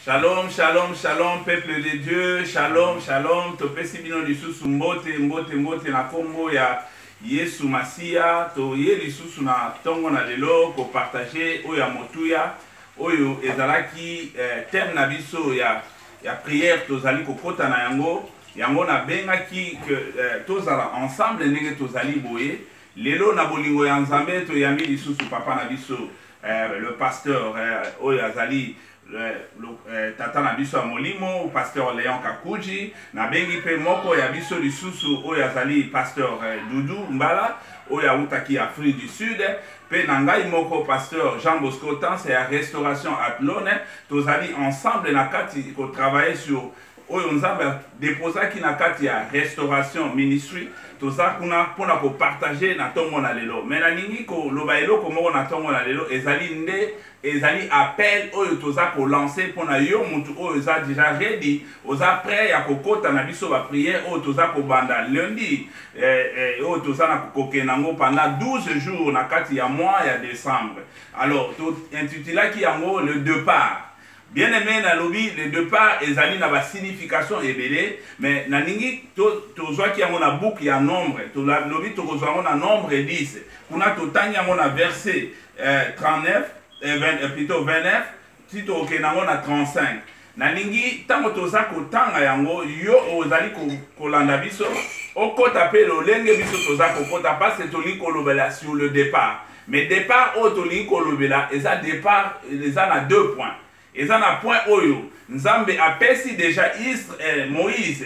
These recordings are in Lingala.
Shalom, shalom, shalom, peuple de Dieu, shalom, shalom, topesi bino lisusu mbote, mbote, mbote na kombo ya Yesu Masiya, toye lisusu na tongo na lelo ko partager oyo ya motuya, oyo ezalaki eh, thème na biso ya, ya prière tozali kokota na yango, yango nabengaki que eh, tozala ensemble ndenge tozali boye, Lelo na bolingo ya Nzambe toyambi lisusu papa na biso eh, le pasteur eh, oyo azali eh, eh, tata na biso ya molimo pasteur Leon Kakuji nabengi mpe moko ya biso lisusu oyo azali pasteur eh, Dudu Mbala oyo awutaki Afrique du Sud mpe na ngai moko pasteur jean bosco tanse ya restauration atlone tozali ensemble na kati kotravaille sur oyo nzambe adeposaki na kati ya restauration ministry toza kuna mpo na kopartage na ntongo na lelo me nalingi koloba eloko moko na ntongo na lelo ezali nde ezali appel oyo toza kolanse mpo na yo motu oyo eza deja redi oza prêt ya kokɔta na biso bapriere oyo toza kobanda lundi eh, eh, oyo toza na kokokende yango pendant 12 jours na kati ya mois ya décembre alors tointitulaki yango le départ Bien aime na lobi le depart ezali na ba signification ebele mais na lingi to tozwaki yango na boucle ya nombre to lobi to kozwa yango na nombre 10 kuna to tangi yango na verset eh, 39 eh, 20, eh, plutôt 29 ti to okenda yango na 35 na lingi tango toza ko tanga yango yo ozali ko kolanda biso okota pe lolenge biso toza ko kota parce que toli ko lobela sur le départ Mais depart oyo tolingi kolobela eza depart eza na deux points. Eza na point oyo Nzambe apesi deja Isre, eh, Moïse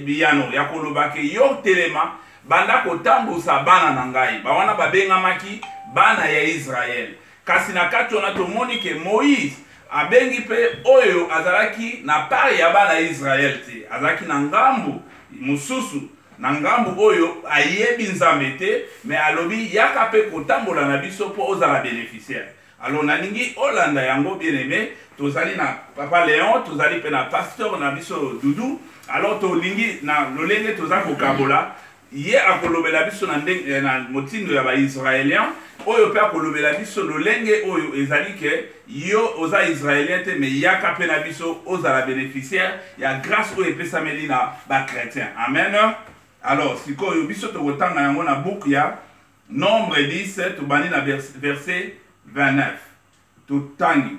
biyano ya koloba ke yo telema banda kotambusa bana na ngai. Ba wana babengamaki bana ya Israël. Kasi na kati wana tomoni ke Moïse abengi mpe oyo azalaki na part ya bana ya Israël te, azalaki na ngambu mosusu na ngambu oyo ayebi nzambe te mais alobi yaka pe kotambola na biso po ozala beneficiaire alors nalingi olanda yango bien aime tozali na papa leon tozali pe na pasteur na biso dudu alors tolingi na lolenge toza kokabola ye akolobela biso na, eh, na motindo ya baisraelien oyo mpe akolobela biso lolenge oyo ezali ke Yo oza israelien te mais yaka pe na biso ozala beneficiaire ya grace oyo epesameli na ba chrétien amen alors sikoyo biso tokotanga yango na book ya nombre 10 tobandi na verset 29 totangi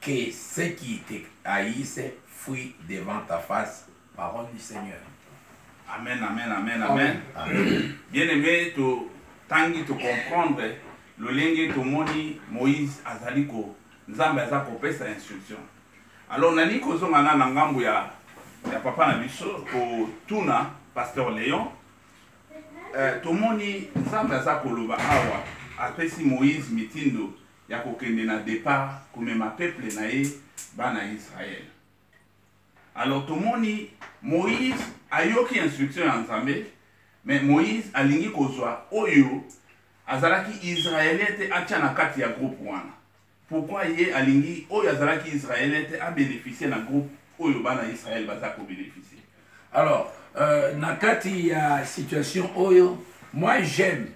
que ceux qui te haïssent fuient devant ta face. Parole du Seigneur. Amen, amen, amen, amen. amen. Bien aimé, tu tangi tu comprendre le lingue tu moni Moïse azaliko nzambe aza sa instruction. Alors nani kozo ngana na ngambu ya ya papa na biso ko tuna pasteur Léon euh, tomoni nzambe aza koloba awa apesi Moïse mitindo ya kokende na depart komema peuple na ye bana Israël. Alors tomoni Moïse ayoki instruction ya Nzambe, mais Moïse alingi kozwa oyo azalaki Israélien te atya na kati ya groupe wana. Pourquoi ye alingi oyo azalaki Israélien te a bénéficier na groupe oyo bana Israël baza ko bénéficier. Alors euh, na kati ya situation oyo moi j'aime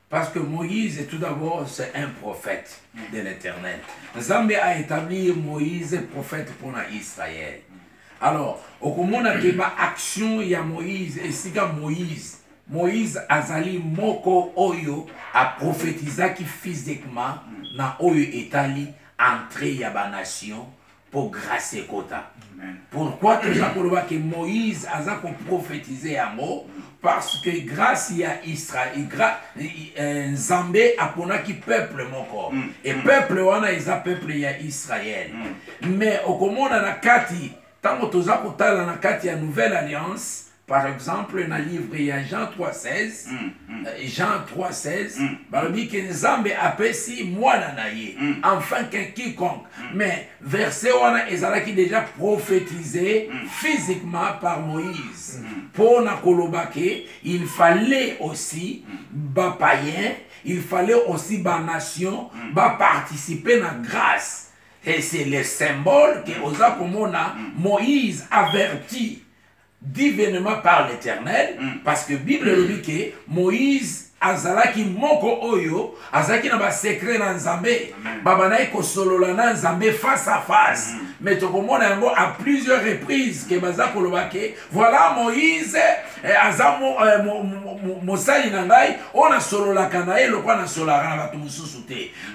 Parce que Moïse, tout d'abord, c'est un prophète de l'éternel. Zambé a établi Moïse prophète pour Israël. Alors, au comment que ma action ya Moïse, et si Moïse, Moïse azali moko oyo a prophétisaki physiquement na oyo etali entrée ya ba nation mpo grâce ekota pourquoi toza koloba ke moïse aza koprofetize yango parce que grâce ya israel euh, nzambe aponaki peuple moko mm. e peuple wana eza peuple ya israel mm. mais okomona na kati ntango toza kotala na kati ya nouvelle alliance par exemple na livre ya jean 316 mm, mm. Euh, jean 316 mm. balobi ke nzambe apesi mwana na ye mm. enfin ke quiconque mm. mais verset wana ezalaki déjà prophétisé mm. physiquement par moïse mpo mm. na koloba ke il fallait aussi mm. bapayen il fallait aussi banation mm. baparticipe na grâce et c'est le symbole ke oza komona mm. moïse averti Divinement par l'Eternel, mm. parce que Bible elobi que Moïse azalaki moko oyo azalaki na basekre na nzambe babandaki kosolola na nzambe face à face mm. mais tokomona yango à plusieurs reprises ke baza koloba ke voilà moïse eh, aza eh, mosali na ngai oyo nasololaka na ye lokwa nasolaka na bato mosusu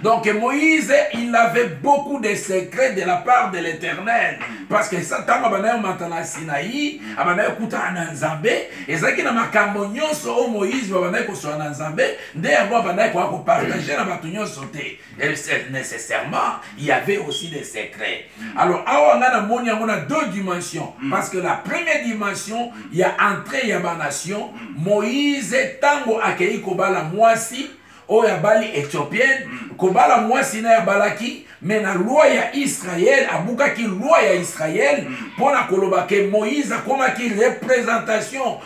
Donc Moïse, il avait beaucoup de secrets de la part de l'Éternel. Parce que ça, tant que matana Sinaï, abana kuta ananzambe, et ça qui na makambo nyonso o Moïse babana ko so ananzambe, nde yango abana ko ko partager na batu nyonso te. Et nécessairement, il y avait aussi des secrets. Alors awa nga na moni yango na deux dimensions mm. parce que la première dimension, il y a entrée ya ba nation, Moïse tango akei ko bala mwasi oyo abali ethiopienne mm. kobala mwasi na ye abalaki me na loi ya israel abukaki loi ya israel mm. mpo na koloba ke moïse akomaki représentation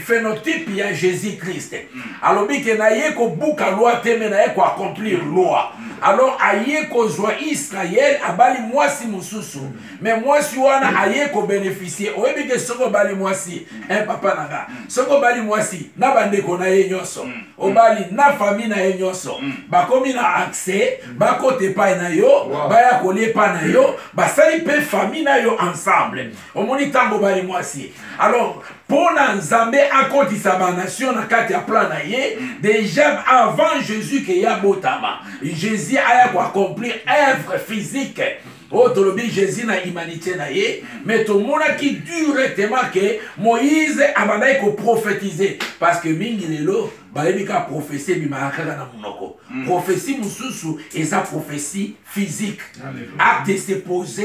phenotype ya jésus christ mm. alobi ke naye kobuka loi te me naye koaccomplir loi alors aye kozwa israel abali mwasi mosusu me mwasi wana aye kobeneficie oyebi ke soki obali mwasi e eh, papa na nga soki obali mwasi na bandeko na ye nyonso mm. obali na famille na ye nyonso mm. bakomi na accès mm. bakota epai na yo baya kolia epai na yo basali mpe famille na yo ensemble mm. omoni ntango obali mwasi alors mpo na nzambe akotisa banation na kati ya plan na ye déjà avant jésus ke ye abotama jésus aya koaccomplir œuvre physique oyo oh, tolobi jésus na humanité na ye mm. mais tomonaki directement ke moïse abandaki koprophétise parce que mingi lelo bayebi kaka prophétie ebimaka kaka na monoko mm. prophétie mosusu eza prophétie physique acte se pose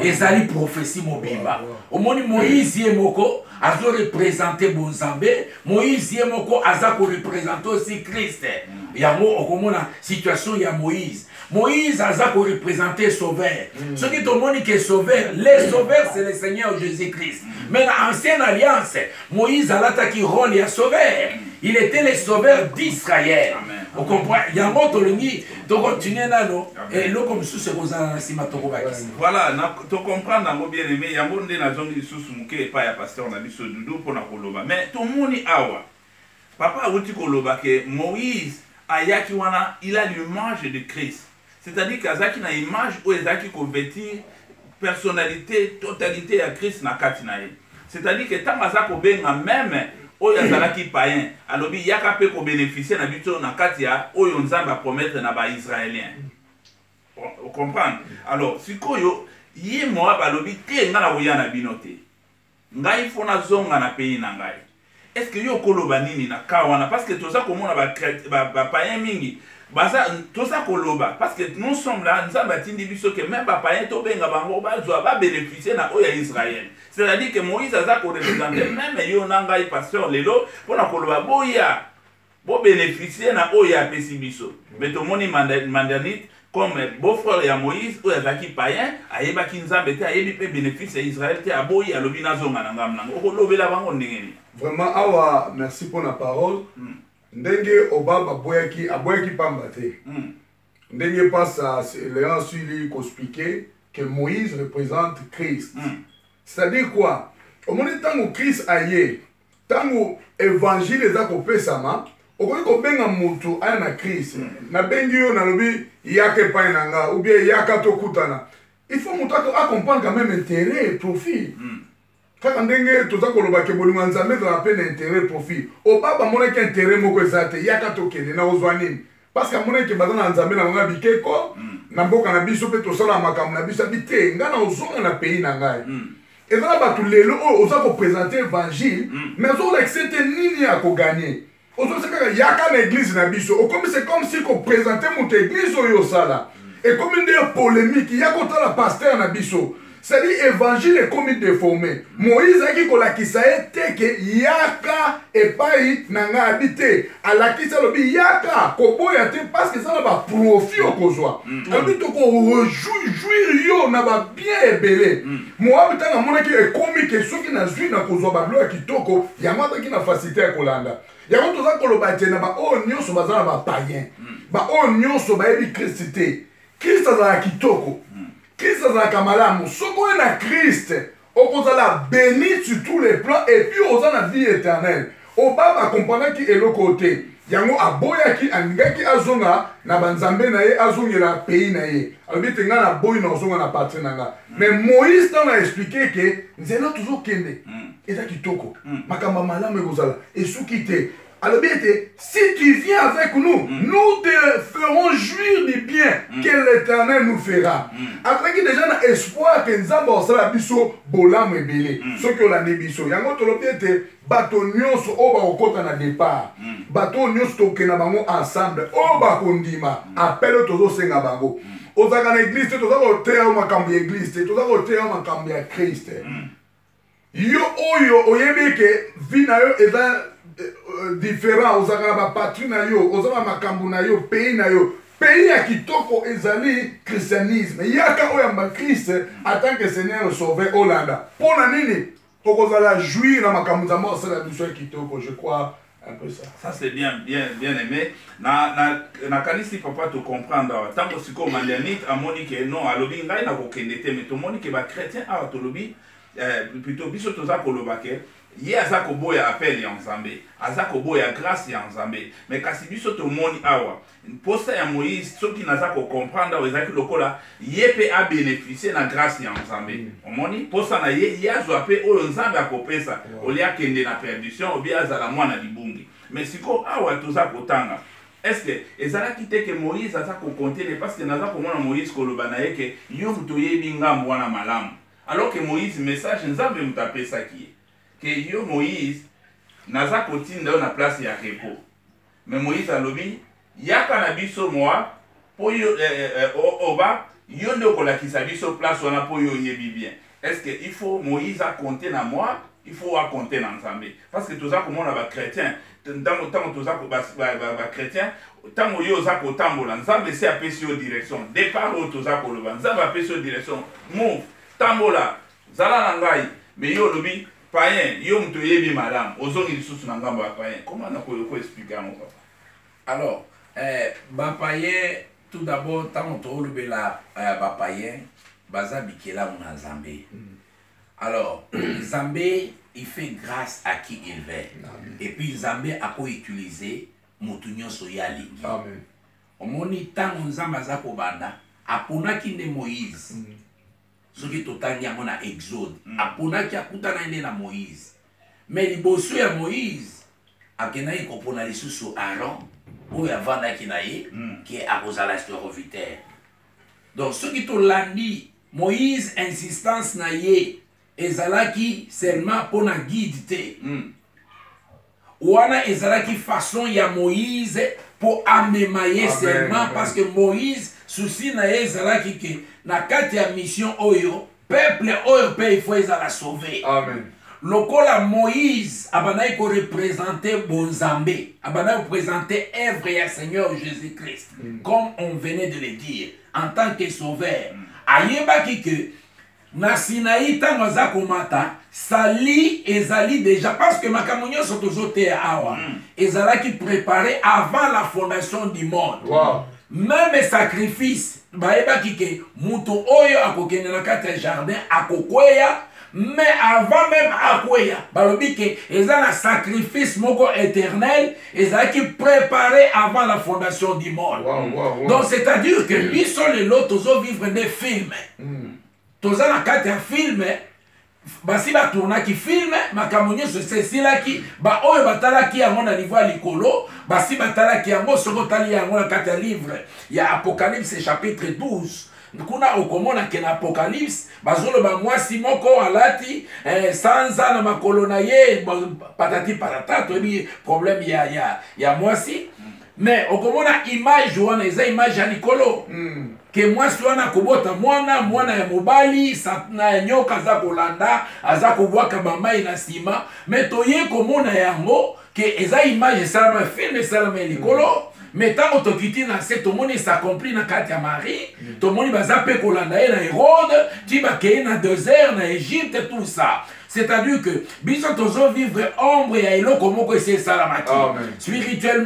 ezali prophétie mobimba omoni moïse ye moko azo représente bonzambe moïse ye moko aza koreprésente aussi christ mm. yango okomona situation ya moïse Moïse aza ko représenter sauveur. Mm. Ce qui tomoni que sauveur, le sauveur c'est le Seigneur Jésus-Christ. Mais dans l'ancienne alliance, Moïse alataki rôle ya sauveur. Il était le sauveur d'Israël. Vous comprenez Yango tolingi to continuer nano et loko mususu ekozala na sima toko bakisa. Voilà, na to comprendre yango bien aimé, yango nde nazongi lisusu muke epa ya pasteur na biso Doudou pona koloba. Mais tomoni awa Papa awuti koloba que Moïse ayaki wana il a l'image de Christ c'est à dire que azalaki na image oyo ezalaki ko vetir personnalite totalite ya Christ na kati na ye c'est à dire que tango aza kobenga meme oyo azalaki païen alobi yaka pe ko beneficier na biso na kati ya oyo Nzambe a promettre na ba Israeliens o comprendre alors sikoyo ye Moab alobi te nga nakoya na bino te Ngai faut nazonga na pays na ngai. Est-ce que yo okoloba nini na cas wana parce que toza komona ba ba, ba païens mingi baza toza koloba parce que nous sommes là nzambe atindi biso ke meme bapayen tobenga bango bazwa babénéficie na oyo ya israel c'est-à-dire ke moïse aza korepresente meme yo na ngai pasteur lelo mpo na koloba boya Bo beneficier na oyo ye apesi biso. Mais tomoni Mandanite comme beau-frère ya Moïse oyo azalaki païen, ayebaki Nzambe te, ayebi pe benefice ya Israël te, aboyi alobi nazonga na ngambo nanga. Okolobela bango ndenge nini? Vraiment awa merci pour la parole. Hmm. Ndenge Obama aboyaki, aboyaki pamba te. Hmm. Ndenge pasa Léon Suli ko expliquer que Moïse représente Christ. Hmm. C'est-à-dire quoi? Omoni tango Christ aye ntango evangile eza kopesama okoki kobenga motu aya na crise mm. nabengi yo nalobi yaka epai na nga ubie yaka tokutana il faut motu acomprendre quand même intérêt et profit mm. kaka ndenge toza koloba ke bolingo ya nzambe ezalaka mpe na intérêt profit oba bamonaki intérêt moko eza te yaka tokende na ozwa nini parce que amonaki ke baza na nzambe na bango ya bikeko mm. na mboka na biso mpe tosalaka makambo na biso abi te ngai na ozonga na pays na ngai mm. eza na bato lelo oyo oza kopresente évangile mm. mais azolakisa ete nini ya koganye ozolakisa kaka yaka na eglize na biso okomi se comme si kopresente moto eglize oyo osala ekomi nde polemiki ya kotala paster na biso sadi évangile ekomi deforme moïse ayaki kolakisa ye te ke yaka epai na ngai abi te alakisi alobi yaka koboya te parceke eza na baprofi okozwa mm. mm. alobi tokorejuire yo na babien ebele mm. moabi ntango amonaki ekomi ke soki nazwi na kozwa babilo ya kitoko yango azalaki na fasilité ya kolanda yango toza koloba te na baoyo nyonso baza na bapayen baoyo nyonso bayebi kristi te kristo azala kitoko Christ azalaka malamu soki oye na Christ okozala béni sur tous les plans et puis oza na vie éternelle obaba akomprenaki eloko te yango aboyaki alingaki azonga na banzambe na ye azongela pays na ye alobi ete ngai naboyi na ozonga na patrie na ngai mm. mais moïse ntango aexplike ke nzela tozokende mm. eza kitoko mm. makambo ya malamu ekozala esuki te alobi ete si tu viens avec nous mm. nous te ferons jouir du bien mm. que l'éternel nous fera mm. azalaki déjà na espoir ke nzambe akosala biso bolamu ebele mm. soki olandi biso yango tolobi ete bato nyonso oyo bakokɔta na départ mm. bato oyo nyonso tokokende na bango ensemble oyo bakondima mm. apele oyo tozosenga bango mm. ozalaka na eglise te toza koteya yo makambo ya eglise te toza koteya yo makambo ya kriste mm. yo oyo oyebi eke vie na yo eza euh, euh, différent ozalaka na bapatrie na yo oza na makambo na yo pays na yo pays ya kitoko ezali christianisme yaka oyo yamba christ atant que seigneur sauver olanda mpo na nini okozala jouir na makambo nzambe asala biso ya kitoko je crois un peu ça. Ça c'est bien, bien, bien aimé. Na, na, na kanisi papa te comprendre awa. Tango siko mandianit amoni ke non alobi ngai na kokende te mais tomoni ke ba chrétien awa tolobi eh, plutôt biso toza koloba ke ye aza koboya appel ya nzambe aza koboya grâce ya nzambe mais kasi biso tomoni awa mposa ya moïse soki naza kocomprendre awa ezalaki lokola ye mpe abeneficie na grâce ya nzambe mm. omoni mposa na ye ye azwa mpe oyo nzambe akopesa olie akende na perdition obie azala mwana libungi mais sikoyo awa toza kotanga estce ezalaki te ke moïse aza kokontene parce que naza komona moïse koloba na ye ke yo moto oyebi ngambo wana malamu alors ke moïse message nzambe moto apesaki ye ke yo moïse naza kotinda yo na place ya repos Mais Moïse alobi, yaka na biso Moab, po yo, eh, eh, eh o, oba, yo nde okolakisa biso place wana po yo oyebi bien. Est-ce que il faut Moïse a compter na Moab? Il faut a compter na Nzambe. Parce que toza komona ba chrétiens, ntango ntango toza ko ba, ba, ba, ba chrétiens, ntango yo oza kotambola, Nzambe se apesi yo direction. Départ oyo toza koloba, Nzambe apesi yo direction. Move, tambola, zala na ngai. Mais yo olobi Paien yo mutu oyebi malamu ozongi lisusu na ngambo ya paien comment na ko ko expliquer yango papa alors eh, ba paien tout d'abord tango tolobela eh, ba paien baza bikelamu na Nzambe mm. alors Nzambe il fait grâce à qui il veut Amen. et puis Nzambe ako utiliser mutu nyonso ye alingi omoni ntango nzambe aza kobanda aponaki nde moïse mm. soki totangi yango na exode mm. aponaki akutanaki nde na moïse me liboso ya moïse akendaki kopona lisusu aron oyo avandaki na ye mm. ke akozala sterovitaire donc soki tolandi moïse insistance na ye ezalaki seulement mpo na guide te mm. Wana ezalaki façon ya Moïse po amema ye seulement parce que Moïse souci na ye ezalaki que na kati ya mission oyo peuple oyo pe il faut ezala sauver. Amen. lokola moïse abandaki korepresente bonzambe abandaki kopresente œuvre ya seigneur jésus christ mm. comme on venait de le dire en tant que sauveur mm. ayebaki ke Na Sinaï tango aza komata salut ezali dejà parce que makambo nyonso tozoteya awa mm. ezalaki préparé avant la fondation du monde wow. meme sacrifice bayebaki ke moto oyo akokende na kati ya jardin akokweya mais avant meme akweya balobi ke eza na sacrifice moko éternel ezalaki préparé avant la fondation du monde wow, wow, wow. donc c'est à dire que biso lelo tozovivre nde filme mm. toza na kati ya filme basi batournaki filme makambo nyonso esi esilaki baoyo batalaki yango na niveau ya likolo basi batalaki yango soki otali yango na kati ya livre ya apocalypse chapitre 12 Kuna okomona ke na Apocalypse bazoloba mwasi moko alati eh, sanza na makolo na ye patati patata, toyebi problème ya, ya, ya mwasi mais okomona image wana eza image ya likolo mm. ke mwasi wana akobota mwana mwana ya mobali satana ya nyoka aza kolanda aza kobwaka bamai na nsima me toye komona yango ke eza image esalama film esalama ya likolo me ntango tokiti na se tomoni esakompli na kati ya marie tomoni baza mpe kolanda ye na herode ti bakei na desert na egypte tout ça c'est-à-dire que biso tozovivre ombre ya eloko moko esi esalamaki spirituellement